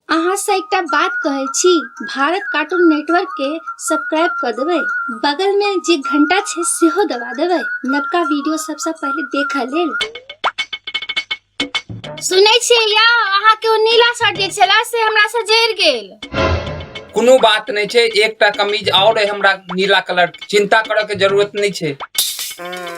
अहाँ से एकटा बात कहै छी भारत कार्टून नेटवर्क के सब्सक्राइब कऽ देबै बगल मे जे घंटा छै सेहो दबा देबै नवका वीडियो सबसँ पहिले देखऽ लेल सुनै छियै यौ अहाँ के ओ नीला शर्ट जे छला से हमरा से जरि गेल कोनो बात नहि छै एकटा कमीज आओर अइ हमरा नीला कलर चिंता करऽ के जरूरत नहि छै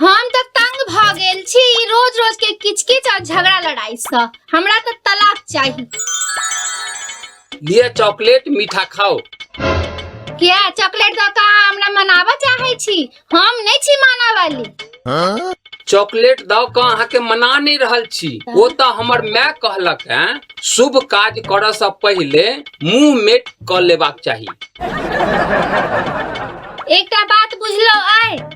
हम तऽ तंग भऽ गेल छी ई रोज रोज के किच किच आ झगड़ा लड़ाई से हमरा तऽ तलाक चाही लिए चॉकलेट मीठा खाओ किया चॉकलेट दऽ कऽ अहाँ हमरा मनाबऽ चाहै छी हम नहि छी माना वाली चॉकलेट दऽ कऽ अहाँके मना नहि रहल छी ओ तऽ हमर माय कहलक हैं शुभ काज करऽ से पहिले मुंह मेट कऽ लेबाक चाही एकटा बात बुझलो आय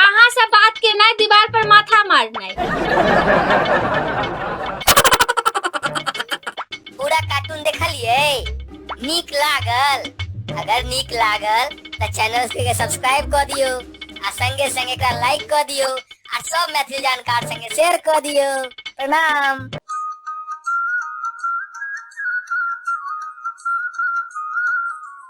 अहाँ से बात के नहीं दीवार पर माथा मारना पूरा कार्टून देखलिए नीक लागल अगर नीक लागल तो चैनल के सब्सक्राइब कर दियो आ संगे संगे एकरा लाइक कर दियो आ सब मैथिली जानकार संगे शेयर कर दियो प्रणाम